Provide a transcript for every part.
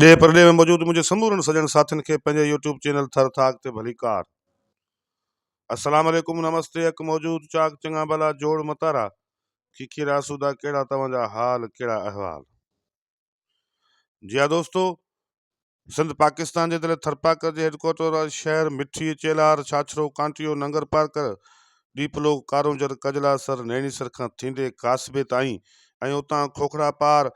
ڏيهه پرڏيهه ۾ موجود منهنجي سمورن سڄڻ ساٿين کي پنهنجي يوٽيوب چينل ٿر ٿاڪ تي ڀليڪار السلام عليڪم نمستي اڪ موجود چاڪ چڱا ڀلا جوڙ متارا کيکير آسودا ڪهڙا توهان جا حال ڪهڙا احوال جي ها دوستو سنڌ پاڪستان جي دل ٿرپاڪر جي هيڊڪوارٽر واري شهر مٺي چيلار ڇاڇرو ڪانٽيو ننگر پارڪر ڏيپلو ڪارونجهر ڪجلا سر نيڻي سر کان ٿيندي ڪاسبي تائين ۽ اتان کوکڙا پار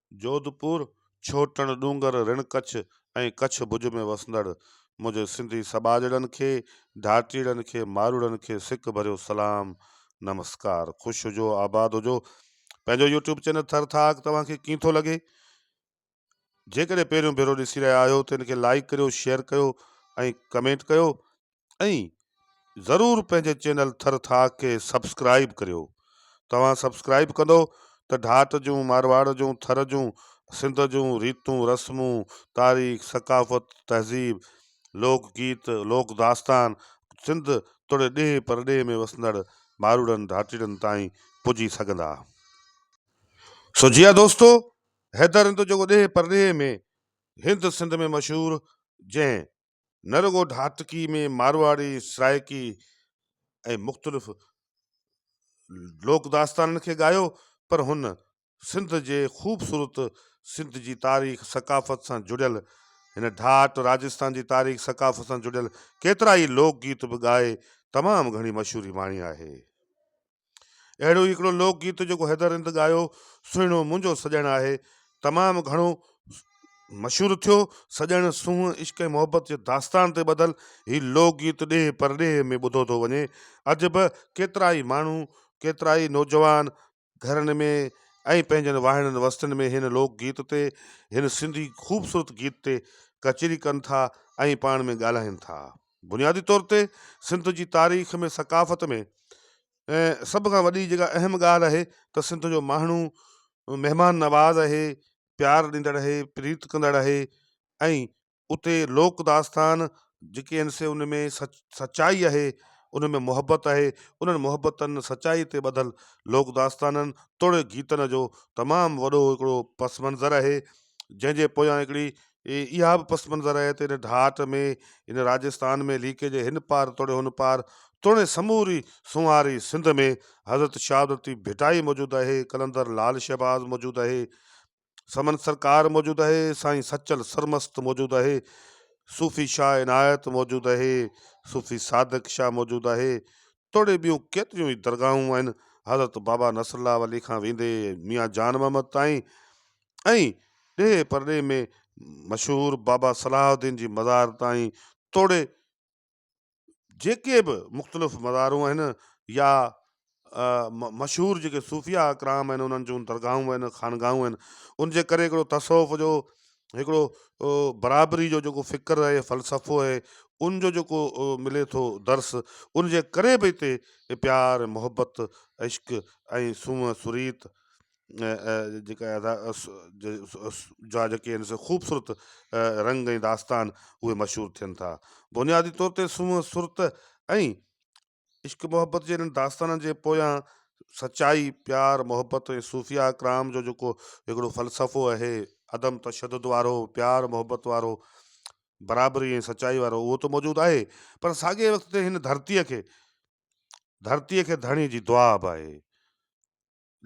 جوڌپور، ڇوٽڻ ڏونگر، رڻ ڪڇ ۽ ڪڇ ڀڄ ۾ وسندڙ منهنجي سنڌي سٻاجهڙن کي، ڌاٽيڙن کي، ماروئڙن کي سڪ ڀريو سلام نمسڪار. خوش هجو آباد هجو. پنهنجو يوٽيوب چينل ٿر ٿاڪ توهان کي ڪيئن ٿو لڳي؟ جيڪڏهن پهريون ڀيرو ڏسي رهيا آهيو ته ان کي لائيڪ ڪريو، شيئر ڪيو ۽ ڪمينٽ ڪيو ۽ ضرور پنهنجي چينل ٿر ٿاڪ کي سبسڪرائيب ڪريو توهان سبسڪرائيب ڪندو ته ڍاٽ جون مارواڙ جون ٿر جون سنڌ جون ريتون رسمون تاريخ ثقافت تهذيب لوڪ گيت لوڪ داستان سنڌ توڙي ڏيهه پرڏيهه ۾ وسندڙ ماروڙن ڍاٽيڙن تائين پڄي سگهندا سو جي ها دوستو حيدر هند جيڪو ڏيهه پرڏيهه ۾ هند سنڌ ۾ مشهور جنهن نه رڳو ڍاٽڪي ۾ مارواڙي، سرائيڪي ۽ مختلف لوڪ داستانن کي ڳايو پر هن سنڌ جي خوبصورت سنڌ جي تاريخ ثقافت سان جڙيل هن ڍاٽ راجستان جي تاريخ ثقافت سان جڙيل ڪيترائي لوڪ گيت به ڳائي تمام گهڻي مشهوري ماڻي آهي. اهڙو ئي هڪڙو لوڪ گيت جيڪو حيدر رند ڳايو، سهڻو منهنجو سڄڻ آهي، تمام گهڻو مشهور ٿيو. سڄڻ، سونهن، عشق ۽ محبت جي داستان تي ٻڌل هي لوڪ گيت ڏيهه پرڏيهه ۾ ٻڌو ٿو وڃي. اڄ به ڪيترائي ماڻهو، ڪيترائي نوجوان گهرن ۾ ۽ پنهنجن واهڻن وستين ۾ هن لوڪ گيت تي، هن سنڌي خوبصورت گيت تي ڪچهري ڪن ٿا ۽ پاڻ ۾ ڳالهائين ٿا. بنيادي طور تي سنڌ جي تاريخ ۾ ثقافت ۾ ۽ سڀ کان وڏي جيڪا اهم ڳالهه آهي ته سنڌ جو ماڻهو مهمان نواز آهي پيار ڏيندڙ آهي پريت ڪندڙ آهي ۽ اتي لوڪ داستان جيڪي آهن سي ان ۾ سچ سچائي آهي ان ۾ محبت آهي انهن محبتن سچائي تي ٻڌل لوڪ داستانن توڙي گيتن جو تمام وڏو هڪڙو پس منظر آهي جنهن جي پويان هڪڙي اها به پس منظر آهي ته ان ڍاٽ ۾ ان راجستان ۾ ليڪي جي هن پار توڙي هن پار توڙي سموري سونهاري سنڌ ۾ حضرت شهادتي ڀٽائي موجود آهي، قلندر لعل شهباز موجود آهي، سمن سرڪار موجود آهي، سائين سچل سرمست موجود آهي، صوفي شاهه عنايت موجود آهي، صوفي صادق شاهه موجود آهي توڙي ٻيون ڪيتريون ئي درگاهون آهن، حضرت بابا نصرالله ولي کان ويندي ميان جان محمد تائين ۽ ڏيهه پرڏيهه ۾ مشهور بابا صلاح الدين جي مزار تائين توڙي جيڪي به مختلف مزارون آهن يا مشهور جيڪي صوفيا اڪرام آهن انهن جون درگاهون آهن خانگاهون آهن ان جي ڪري هڪڙو تصوف جو هڪڙو برابري جو جيڪو فڪر آهي فلسفو آهي ان جو جيڪو ملي ٿو درس ان جي ڪري به هتي پيار محبت عشق ۽ سونهن سريت جيڪا ادا جا جيڪي آهن سو خوبصورت رنگ ۽ داستان اهي مشهور ٿين ٿا بنيادي طور تي سونهن سرت ۽ عشق محبت جي انهن داستانن جي پويان سچائي پيار محبت ۽ صوفيا اڪرام جو جيڪو هڪڙو فلسفو اهي عدم تشدد وارو پيار محبت وارو برابري ۽ سچائي وارو اهو ته موجود آهي پر ساڳئي وقت تي هن ڌرتيء کي ڌرتيء کي ڌڻي جي دعا به آهي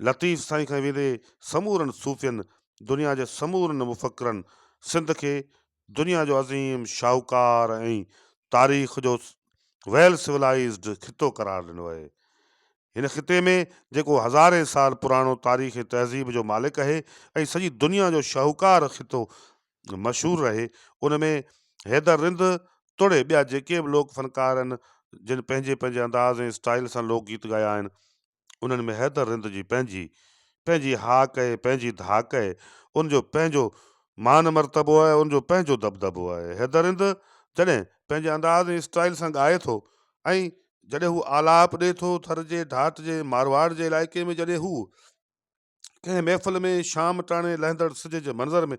لطيف سائين کان ويندي سمورن صوفين، دنيا جي سمورن مفڪرن سنڌ کي دنيا جو عظيم شاهوڪار ۽ تاريخ جو ويل سولائيزڊ خطو قرار ڏنو اهي. هن خطي ۾ جيڪو هزارين سال پراڻو تاريخ ۽ تهذيب جو مالڪ اهي ۽ سڄي دنيا جو شاهوڪار خطو مشهور رهي ان ۾ حيدر رند توڙي ٻيا جيڪي به لوڪ فنڪار آهن جن پنهنجي پنهنجي انداز ۽ اسٽائيل سان لوڪ گيت ڳايا آهن انهن ۾ حيدر رند جي پنهنجي پنهنجي هاڪ ۽ پنهنجي ڌاڪ آهي، ان جو پنهنجو مان مرتبو آهي، ان جو پنهنجو دٻدٻو آهي. حيدر رند جڏهن پنهنجي انداز ۽ اسٽائيل سان ڳائي ٿو ۽ جڏهن هو آلاپ ڏئي ٿو ٿر جي ڍاٽ جي مارواڙ جي علائقي ۾ جڏهن هو. ڪنهن محفل ۾ شام ٽاڻي لهندڙ سج جي منظر ۾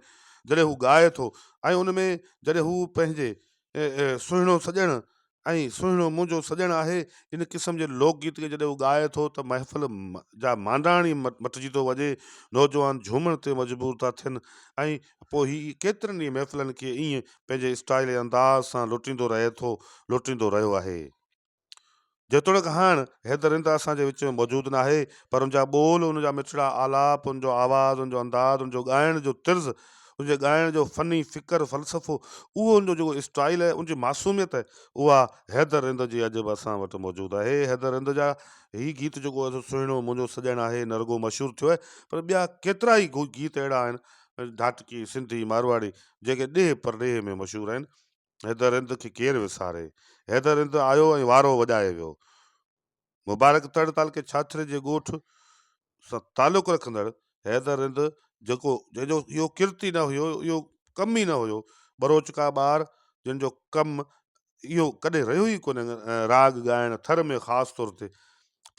جڏهن هو ڳائي ٿو ۽ ان ۾ جڏهن هو پنهنجي سهڻو سڄڻ ۽ سهڻو منهنجو سڄڻ آهي ان قسم جي لوڪ گيت کي جڏهن هو ڳائي ٿو ته محفل جا مانڊاڻ ئي مٽجي ٿو وڃي نوجوان جهومڻ تي مجبور ٿا ٿين ۽ پوء هي ڪيترن ئي محفلن کي ائين پنهنجي اسٽائل ۽ انداز سان لٽيندو رهي ٿو لٽيندو رهيو آهي جيتوڻيڪ هاڻ هي درنده اسان جي وچ ۾ موجود ناهي، پر ان جا ٻول، ان جا مٺڙا آلاپ، ان جو آواز، ان جو انداز، ان جو ڳائڻ جو طرز، ان جي ڳائڻ جو فني فڪر، فلسفو، اهو ان جو جيڪو اسٽائيل آهي، ان جي معصوميت، اها هي درنده جي اڄ به اسان وٽ موجود آهي. هي درنده جا هي گيت جيڪو ايڏو سهڻو منهنجو سڄڻ آهي، نه رڳو مشهور ٿيو آهي، پر ٻيا ڪيترا ئي گيت اهڙا آهن، ڌاٽڪي، سنڌي، مارواڙي، جيڪي ڏيهه پرڏيهه ۾ مشهور آهن. حيدر هند کي ڪير وساري. حيدر هند آيو ۽ وارو وڄائي ويو. مبارڪ تڙ تعلقي ڇاڇري جي ڳوٺ سان تعلق رکندڙ حيدر هند جيڪو جنهن جو اهو ڪرت ئي نه هيو، اهو ڪم ئي نه هيو، ٻروچ ڪا ٻار جن جو ڪم اهو ڪڏهن رهيو ئي ڪونهي راڳ ڳائڻ ٿر ۾ خاص طور تي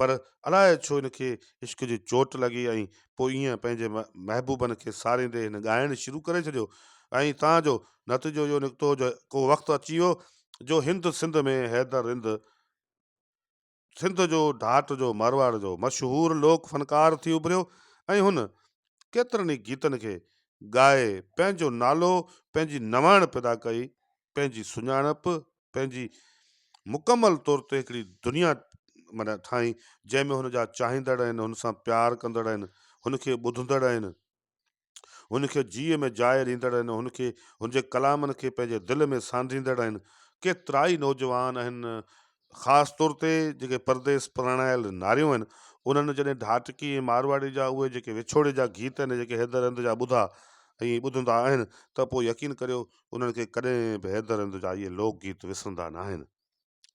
پر الاء ڇو هن کي عشق جي چوٽ لڳي ۽ پوء ايئن پنهنجي محبوبن کي ساريندي هن ڳائڻ شروع ڪري ڇڏيو ۽ تان جو نتيجو اهو نڪتو جو ڪو وقت اچي ويو جو هند سنڌ ۾ حيدر رند سنڌ جو ڍاٽ جو مارواڙ جو مشهور لوڪ فنڪار ٿي اڀريو ۽ هن ڪيترن ئي گيتن کي ڳائي پنهنجو نالو پنهنجي نواڻ پيدا ڪئي پنهنجي سڃاڻپ پنهنجي مڪمل طور تي هڪڙي دنيا معنيٰ ٺاهين جنهن ۾ هن جا چاهيندڙ آهن، هن سان پيار ڪندڙ آهن، هن کي ٻڌندڙ آهن، هن کي جيء ۾ جاء ڏيندڙ آهن، هن کي هن جي ڪلامن کي پنهنجي دل ۾ سانڍيندڙ آهن. ڪيترائي نوجوان آهن خاص طور تي جيڪي پرديس پراڻايل ناريون آهن انهن جڏهن ڍاٽڪي ۽ مارواڙي جا اهي جيڪي وڇوڙي جا گيت آهن جيڪي حيدر هند جا ٻڌا ۽ ٻڌندا آهن ته پوء يقين ڪريو انهن کي ڪڏهن به حيدر هند جا اهي لوڪ گيت وسرندا ناهن.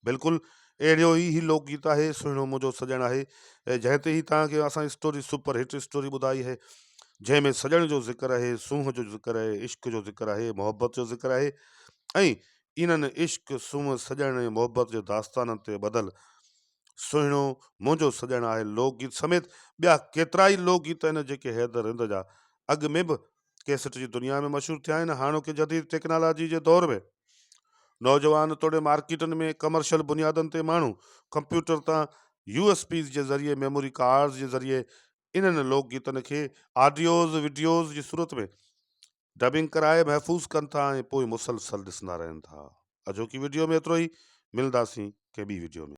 بلڪل اهڙيو ئي هي لوڪ گيت آهي سهڻو منهنجو سڄڻ آهي جنهن تي هي توهان کي اسان اسٽوري سپر هٽ اسٽوري ٻڌائي آهي جنهن ۾ سڄڻ جو ذڪر آهي سونهن جو ذڪر آهي عشق جو ذڪر آهي محبت جو ذڪر آهي ۽ انهن عشق سونهن سڄڻ ۽ محبت جي داستانن تي ٻڌل سهڻو منهنجو سڄڻ آهي لوڪ گيت سميت ٻيا ڪيترائي لوڪ گيت آهن جيڪي حيدر هند جا اڳ ۾ به ڪيسٽ جي دنيا ۾ مشهور ٿيا آهن هاڻوڪي جديد ٽيڪنالاجي جي دور ۾ نوجوان توڙي مارڪيٽن ۾ ڪمرشل بنيادن تي ماڻهو ڪمپيوٽر تان يو ايس پيز جي ذريعي ميموري ڪارڊز جي ذريعي انهن لوڪ گيتن کي آڊيوز وڊيوز جي صورت ۾ ڊبنگ ڪرائي محفوظ ڪن ٿا ۽ پوء مسلسل ڏسندا رهن ٿا اڄوڪي وڊيو ۾ ايترو ئي ملنداسين ڪنهن ٻي وڊيو ۾